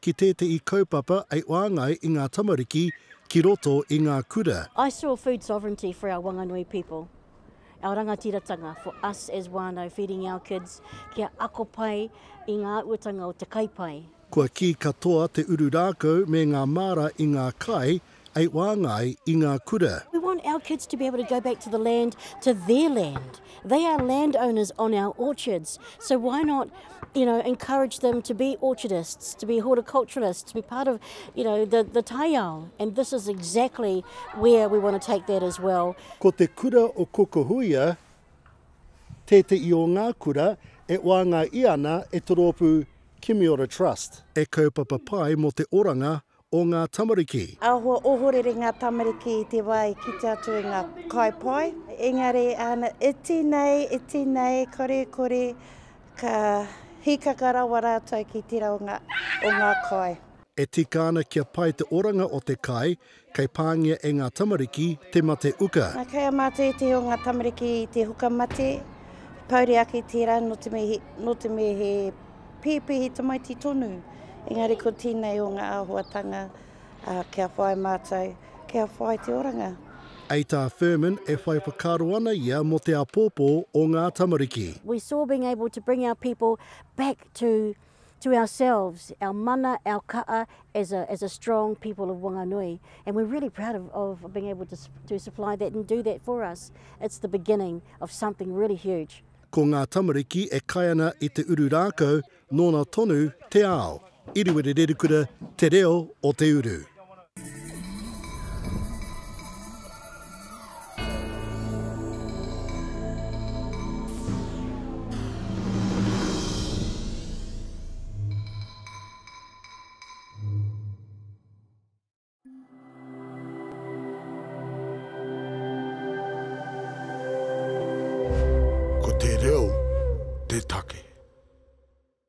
ki tētehi kaupapa i whāngai i ngā tamariki ki roto i ngā kura. I saw food sovereignty for our Wanganui people, our rangatiratanga, for us as whānau feeding our kids kia ako pai i ngā uatanga o te kai pai. Kua kī katoa te uru rākau me ngā māra i ngā kai ei waanga ai i ngā kura. We want our kids to be able to go back to the land, to their land. They are land owners on our orchards, so why not you know, encourage them to be orchardists, to be horticulturalists, to be part of you know, the, the taiao. And this is exactly where we want to take that as well. Ko te kura o Kokohuia tēteʻi o ngā kura e waanga i ana e te roopu Kimiora Trust. E kaupapa pai mo te oranga o ngā tamariki. Ahakoa ohorere ngā tamariki i te wā e kite atu i ngā kai pai, engari āna iti nei, iti nei, kore, kore, ka hīkaka rawa rātou ki tērā o ngā, o ngā kai. E tika ana kia pai te oranga o te kai, kei pāngia e ngā tamariki te mate uka. Nā, kei a mātou ētahi o ngā tamariki i te huka mate, pouri ake tērā nō te mea he, nō te mea he Pēpehi tamaiti tonu, engari ko tēnei o ngā āhuatanga kia whai mātou, kia whai te oranga. I tā Firmin e whai whakaaro ana ia mō te āpōpō o ngā tamariki. We saw being able to bring our people back to to ourselves, our mana, our ka'a as a as a strong people of Wanganui and we're really proud of of being able to to supply that and do that for us. It's the beginning of something really huge. Ko ngā tamariki e kai ana i te uru rākau, nōna tonu te ao. Iriwiri Rerikura, Te Reo o te Uru. Ko te reo te take.